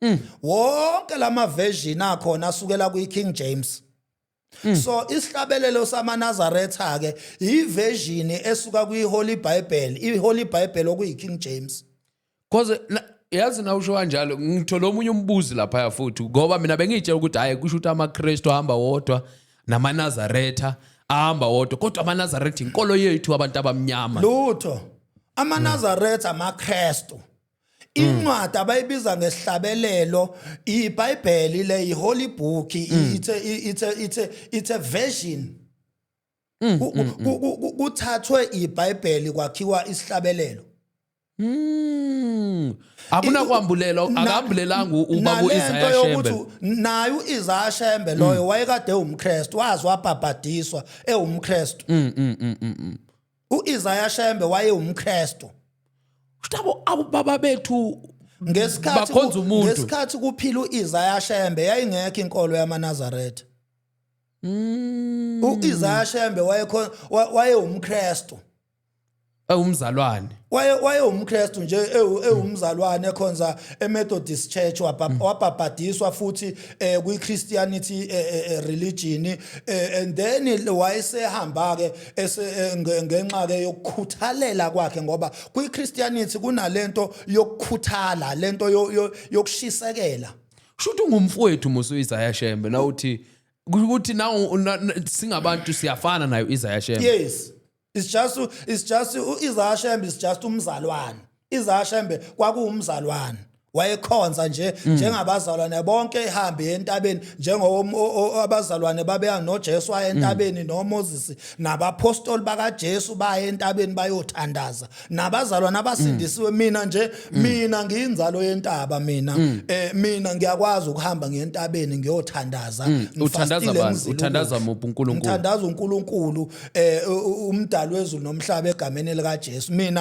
Mm. wonke lama version akhona asukela kwi King James mm. so isihlabelelo samanazaretha ke iversion esuka kwi Holy Bible i Holy Bible okuyi King James cause yazi na usho kanjalo ngithola omunye umbuzi lapha futhi ngoba mina bengitshela ukuthi hayi kusho ukuthi amaKristu ahamba wodwa namanazaretha ahamba wodwa kodwa amanazaretha inkolo yethu abantu abamnyama lutho amanazaretha amaKristu incwadi abayibiza ngesihlabelelo ibhayibheli le iholy book it's a, it's a, it's a, it's a version Mm, Ku- mm, ku- ku- ku- kuthathwe ibhayibheli kwakhiwa isihlabelelo Mm. akunakwambulela Na- akambulelanga u- ubaba nalento uIsaiah yokuthi Shembe Mm. naye uIsaiah Shembe loyo wayekade ewumKristu wazi wabhabhadiswa ewumKristu Mm, uIsaiah Shembe wayewumKristu Shtabo ababa bethu ngesikhathi bakhonza umuntu. ngesikhathi kuphila uIsaiah Shembe yayingekho inkolo yamaNazaretha Mm. uIsaiah Shembe wayekho wa- wayewumKristu Ewumzalwane. waye wayewumKristu nje ewu- ewumzalwane ekhonza eMethodist Church wabha- wabhabhadiswa futhi eh kwiChristianity eh, eh, eh, religion eh, and then wayesehamba ke ngenxa ke yokukhuthalela kwakhe ngoba kwiChristianity kunalento yokukhuthala lento yokushisekela shuthi ungumfowethu musa uIsaiah Shembe la uthi ukuthi na singabantu siyafana nayo Isaiah Shembe yes it's just it's just uIsaiah Shembe is just umzalwane izashembe kwakuwumzalwane wayekhonza nje mm. njengabazalwane bonke ehambe entabeni njengabazalwane babeya noJesu aye entabeni mm. noMoses nabapostoli bakaJesu baye entabeni bayothandaza nabazalwane abasindisiwe mm. mina nje mina ngiyinzalo yentaba mina eh mina ngiyakwazi ukuhamba ngentabeni ngiyothandaza uthandaza bani uthandaza muphi uNkulunkulu uthandaza uNkulunkulu eh umdali wezulu nomhlaba egameni likaJesu mina